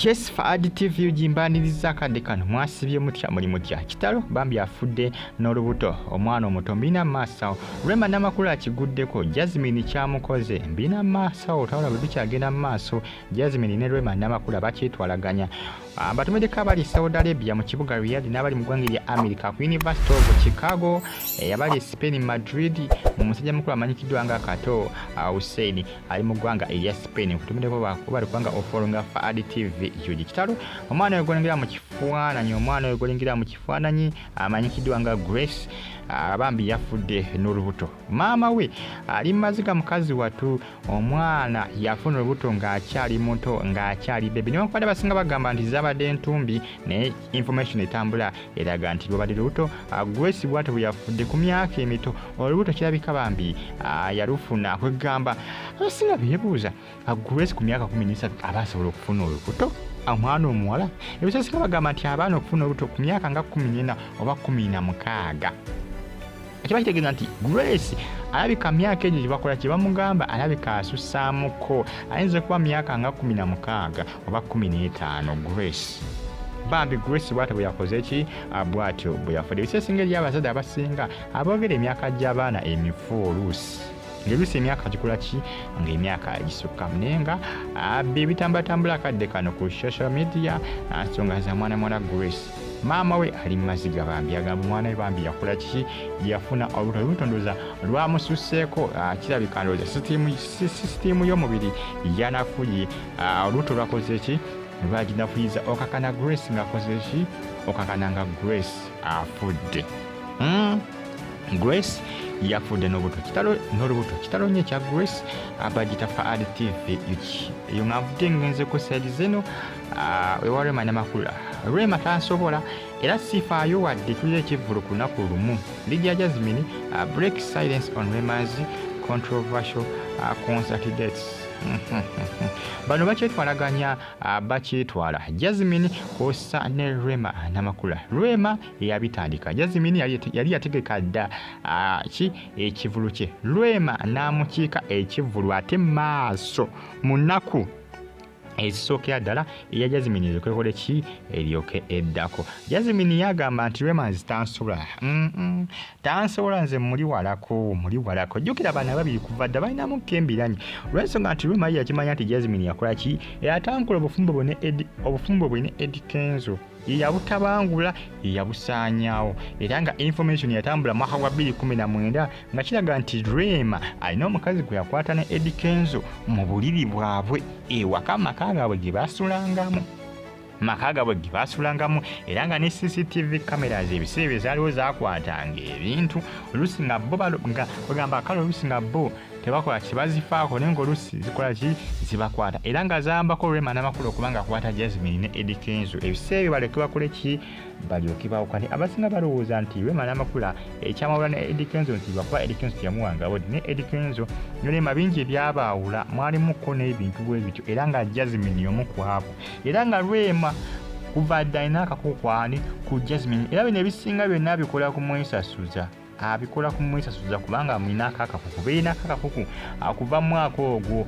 yes faadi tv ugimbaniriza akadde kano mwasibye mutya muli mutya kitalo bambi afudde n'olubuto omwana omuto mbina maasawo rema namakulu akiguddeko jasmine kyamukoze mbina maasawo tawala bwe bikyagenda mu maaso jasmine ne rema namakulu bakyetwalaganya Ah, batumeddeko abali saudi arabia mu kibuga riyad n'abali mu ggwanga erya america ku university of chicago eh, abali spain madrid mu musajja mukulu amanyikiddwa nga kato ah, hussein ali mu ggwanga erya spain kutumeddeko bali kubanga ofolonga faad tv yugi kitalo omwana oyo golingira mu kifaananyi omwana oyo golingira mu kifaananyi amanyikiddwa nga grace ah, bambi yafudde n'olubuto maama we ali mumaziga mukazi watu omwana yafuna olubuto ng'akyali muto ng'akyali bebi newankubadde abasinga bagamba nti zabadde entumbi naye information etambula eraga nti lwabadde lubuto grace bwatyo bweyafudde ku myaka emito olubuto kirabika bambi yalufuna kwegamba abasinga bebuuza aguresi ku myaka kumi n'esatu aba asobola okufuna olubuto omwana omuwala ebisosinga bagamba nti abaana okufuna olubuto ku myaka nga kumi n'ena oba kumi na mukaaga kiba kitegeeza nti grace alabika myaka egyo gyebakola kyebamugamba alabika asusaamuko ayinza okuba myaka nga kumi na mukaaga oba kumi n'etaano grace bambi grace bwatyo bwe yakoze ki ah, bwatyo bwe yafudde ebisesinga eri abazadde abasinga aboogera emyaka gy'abaana emifu oluusi ngelusi emyaka gikola ki nga emyaka gisukka naye nga abbi ebitambatambula akadde kano ku social media nsonga za mwana mwana grace maama we ali mumaziga bambi agamba omwana we bambi yakola kiki yafuna olubuto olubuto ndoza lwamususseeko ah, kirabika ndoza sisitiimu y'omubiri yanafuye ah, olubuto lwakoze ki lwaginafuyiza okakana grace ngaakoze ki okakana nga grace afudde mm. grace yafudde n'olubuto kitalo n'olubuto kitalo nnyo ekya grace abagita fa ad tv eki eyo nga nvudde ngenze ku saidi zeno ah, ewa rema namakula rema tansobola era sifaayo wadde tulira ekivvulu ku lunaku lumu ligia jasmine ah, break silence on remas controversial ah, concert dates bano bakyetwalaganya Ah, bakyetwala jasmine kwossa ne rema namakula rema eyabitandika jasmine yali yategeka dda ah, ki ekivulu kye rema n'amukiika ekivulu ate maaso munaku ezisookera ddala eya jasmine ezikwekole ki eryoke eddako jasmine yagamba nti rema nzitansobola tansobola nze muli walako muli walako jjukira abaana babiri kuva dda balinamu kembiranyi olwensonga nti ruma ye yakimanya nti jasmin yakola ki eyatankola obufumbo bwe ne edi obufumbo bwe ne edi kenzo yeyabutabangula yeyabusaanyawo era nga information yatambula mwaka gwa 219 nga kiraga nti rema alina omukazi gwe yakwata ne edi kenzo mu buliri bwabwe ewaka amaka gaabwe gye basulangamu maka gabwe ge baasulangamu era nga ne cctv cameras ebiseera ebyo zaaliwo zaakwatanga ebintu oluusi nga bo balo- nga bagamba kale oluusi nga bo tebakola kibazifaako naye ngaoluusi zikola ki zibakwata era nga zayambako rema namakulu okuba nga akwata jasmine ne edi kenzo ebiseera ebyo balyoke bakole ki balyoke bawukane abasinga balowooza nti rema namakula ekyamawula ne edi kenzo nti lwakuba edi kenzo teyamuwanga bodi ne edi kenzo ne rema bingi ebyabaawula mwalimuko n'ebintu bwe bityo era nga jasmine y'omu kwabo era nga Rema kuva dda alina akakuku kwani ku Jasmine era bino ebisinga byonna abikola ku mwesasuza abikola ku mwesasuza kubanga amulinaako akakuku beerinaako akakuku akuva mu mwaka ogwo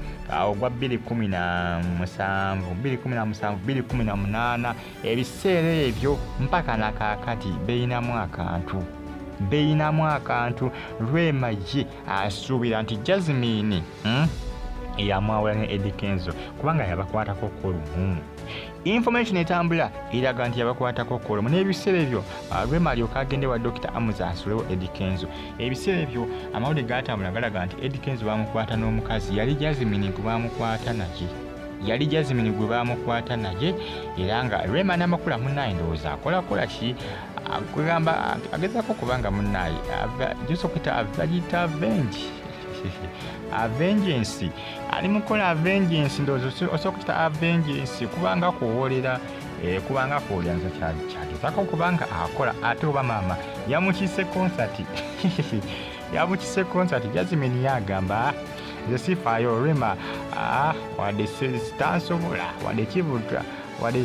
ogwa 217 ebiseera ebyo mpaka nakaakati beerinamu akantu beerinamu akantu lwema ye asuubira nti jasmine hmm? yamwawula ne edi kenzo kubanga yabakwatako kulumu information etambula eraga nti yabakwatako kulumu n'ebiseera ebyo ah, rema alyoka agende wa dokita amuza asulewo edi kenzo ebiseera ebyo amawulire gatambula galaga nti edi kenzo bamukwata n'omukazi yali jasmine gwe bamukwata naye yali jasmine gwe bamukwata naye era nga rema namakula munaye ndowooza akolakola ki kwegamba agezako kubanga munaye josokita avayita avengi avengensi ali mukola avengensi ndowooza osobola kukita avengensi kubanga kuwolera eh, kubanga kuwolera nze kyagezako kubanga akola ate oba maama yamukise konsati yamukise konsati jazimini yagamba nze sifaayo rema ah, wadde sitansobola wadde kibuta wadde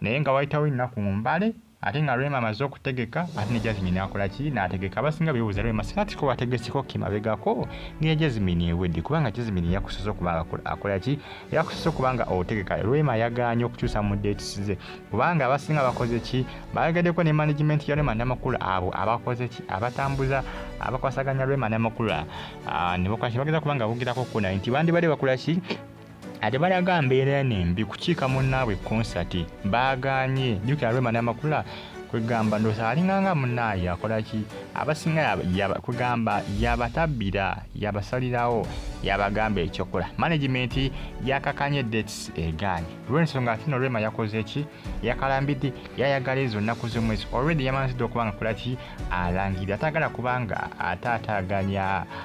naye nga wayitawo ennaku mbale ate nga rema amaze okutegeka ate ne jasmine akola ki n'ategeka abasinga bebuuza rema singa tiko wategeseko kimabegako ngeya jasmine ewedde kubanga jasmine yakusosa okuba akola ki yakusosa okuba nga otegeka rema yaganye okukyusa mu dates ze kubanga abasinga bakoze ki bayagadeko ne management ya rema namakula abo abakoze ki abatambuza abakwasaganya rema namakula ah, ne bakola ki bageza kubanga bogerako kuna nti bandibadde bakola ki ate balaga mbeera eno embi kukiika munnaabwe konsati baagaanye jukira lwema namakula kwegamba ndosa alinganga munaaye akolaki abasinga kwegamba yabatabbira yabasalirawo yabagamba ekyokola managimenti yakakanye dates egaanye lwensonga atino lwema yakoze eki yakalambidde yayagala ezo nnaku z'omwezi olwedi yamanzidde okubanga kolaki alangira atagala kubanga ate ataganya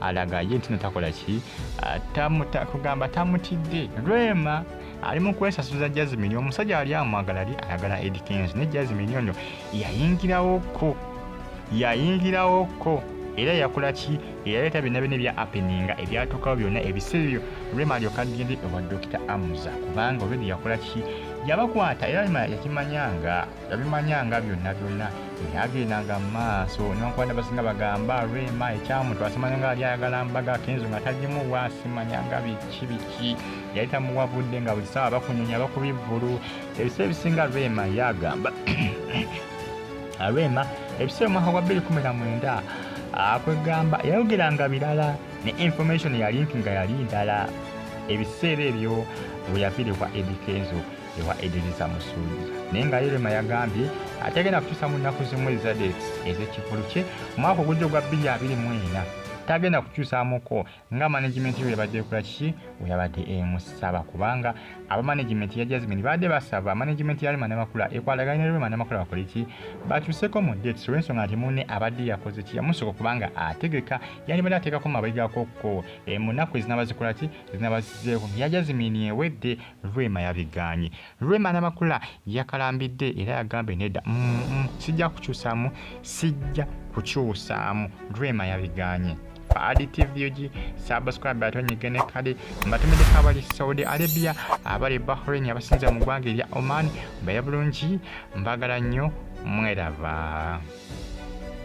alaga ye ntino takola ki ah, tamuta kugamba tamutidde rema ali mu kwesasuza jasmine omusajja ali amwagala ali ayagala ed kenzo ne jasmine ono yayingirawoko yayingirawoko era yakola ki eyaleeta byonna byonna ebya appeninga ebyatuukawo byonna ebiseera ebyo rema alyoka agende ewa dokita amuza kubanga olwedi yakola ki yabakwata era rema yakimanyanga yabimanya nga byonna byonna nyagendanga mu maaso nonkwanda basinga bagamba rema ekyamutu asimanya nga ali ayagala mbaga kenzo nga tagimu wasimanya nga biki biki yali tamuwabudde nga buli saawa bakunyonya bakubivulu ebisa ebisinga rema yagamba rema ebisa omwaka gwa 219 akwegamba yayogeranga birala ne information yalinki nga yali ndala ebiseera ebyo bwe yafiiribwa edikenzo ewa ediriza musuuza naye nga yerema yagambye ategenda kutuusa mu nnaku zimu ezadex ez'ekivulu kye omwaka ogujja ogwa 224 tagenda kukyusamuko nga management yo yabadde ekola kiki weyabadde emusaba kubanga aba management ya jasmine baadde basaba management ya rema namakula ekwatagana ne rema namakula bakole ki bakyuseko mu date so ensonga nti munne abadde yakoze ki yamusoko kubanga ategeka yandibadde ateekako mabega koko e, mu nnaku ezinaba zikola ki ezinaba zizeeko ya jasmine ewedde Rema yabigaanye. Rema Namakula yakalambidde era yagambye nedda, mm, mm, sijja kukyusaamu, sijja kukyusaamu. Rema yabigaanye. Fahadi TV uji subscribe ate onyige ne kadi mbatumideko abali Saudi Arabia abali Bahrain abasinza mu ggwanga erya Oman mbaye bulungi mbagala nnyo mweraba